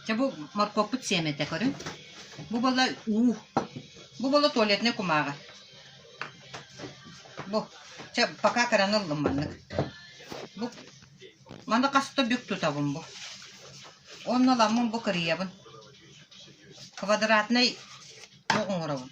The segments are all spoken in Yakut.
Чэ бу моркуоппут сиэмэтэ көрүҥ. Бу буола уу. Бу буола туалетнай кумааҕы. Бу. Чэ пока кыраны ыллым маннык. Бу маны хаста бүк тутабын бу. Онно ламмын бу кырыйабын. Квадратнай бу оҥоробун.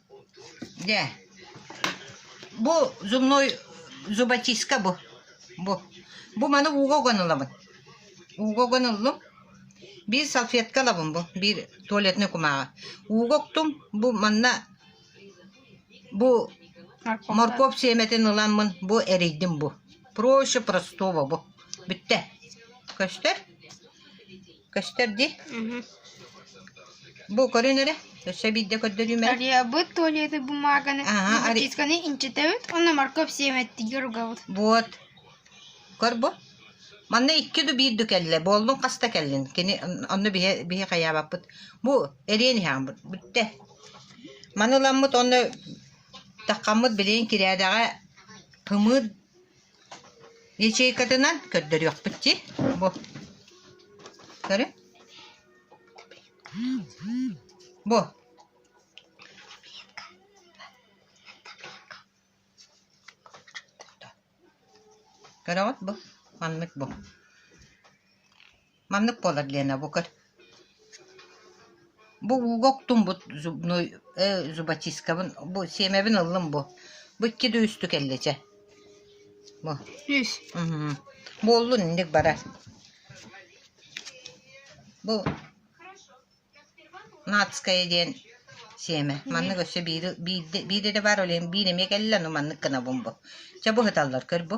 Дьэ, бу зубной зубочистка бу. Бу. Бу маны ууга уган ылабын. Ууга уган ыллым. Биир салфетка ылабын бу. Биир туалетной кумааҕы. Ууга уктум. Бу манна бу морковь сиэмэтин ыламмын бу эрийдим бу. Проще простого бу. Бүттэ. Көстөр? көстөр ди бу көрүн эрэ өссө биирдэ көрдөрүүм эрэ арыйабыт туалеты бумаганы матисканы инчитэбит онно морковь сиэмэттиги ругабыт вот көр бу манна икки ду биир ду кэллэ буоллун хаста кэллин кини онно биһи биһи хайаабаппыт бу эриэн иһэҕимбыт бүтте маны ыламмыт онно таккаммыт билигин кирээдэҕэ пымыыр Ячейкатынан көрдөрүөхпүт дии бу. Көрү. Бу. Көрөҕүт бу. Маннык бу. Маннык буолар диэн бу көр бу ууга уктумбут зубной э, зубочисткабын бу сиэмэбин ыллым бу бу икки да үстүк эллэчэ бу сүүс уһу. буоллун инник барар бу натская диэн сиэмэ маннык өссө биири биирde биирde да баар олен биир эмиэ кэллэ ну маннык гына бу чэ бу ыталлар көр бу